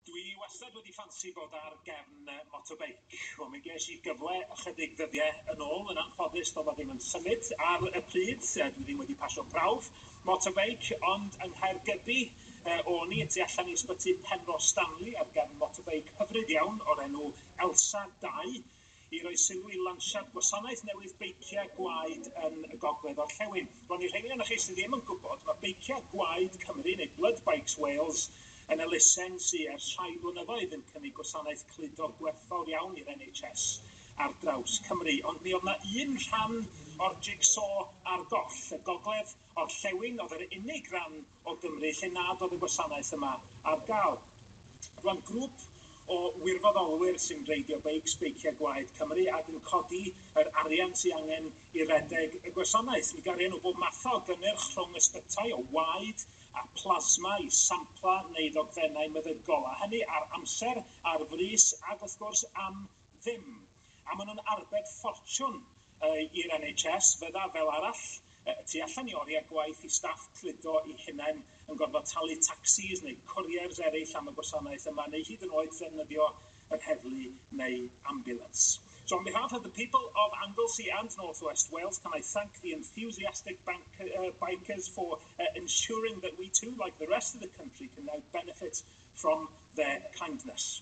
Dwi wastad wedi ffansi bod ar gefn motobeic, wel mi ges i gyfle ychydig ddyddie yn ôl, yn anffodus do'dd o ddim yn symud ar y pryd, dwi ddim wedi pasio prawf motobeic, ond yng Nghaergybi o'n i, y tu allan i Ysbyty Penrhos Stanley, ar gefn motobeic hyfryd iawn o'r enw Elsa 2, i roi sylw i lansiad gwasanaeth newydd beiciau gwaed yn y gogledd orllewin. Bron i'r rheiny ohonoch chi sydd ddim yn gwybod, mae Beiciau Gwaed Cymru, neu Blood Bikes Wales, yn elusen sy ers rhai blynyddoedd yn cynnig gwasanaeth cludo gwerthfawr iawn i'r NHS ar draws Cymru. Ond mi oedd yna un rhan o'r jig-so ar goll. Y gogledd orllewin oedd yr unig ran o Gymru lle nad oedd y gwasanaeth yma ar gael. Roedd grŵp o wirfoddolwyr sy'n reidio beics, Beiciau Gwaed Cymru, ac yn codi yr arian sy angen i redeg y gwasanaeth. Mi garion nhw bob math o gynnyrch rhwng ysbytai, o waed a plasma i sampla neu ddogfennau meddygol, a hynny ar amser, ar frys ac wrth gwrs am ddim, a maen nhw'n arbed ffortiwn i'r NHS, fydda, fel arall, y tu allan i oriau gwaith i staff cludo eu hunain yn gorfod talu tacsis neu cwriers eraill am y gwasanaeth yma, neu hyd yn oed ddefnyddio yr heddlu neu ambulans. So on behalf of the people of Anglesey and North West Wales, can I thank the enthusiastic bank, uh, bikers for uh, ensuring that we too, like the rest of the country, can now benefit from their kindness.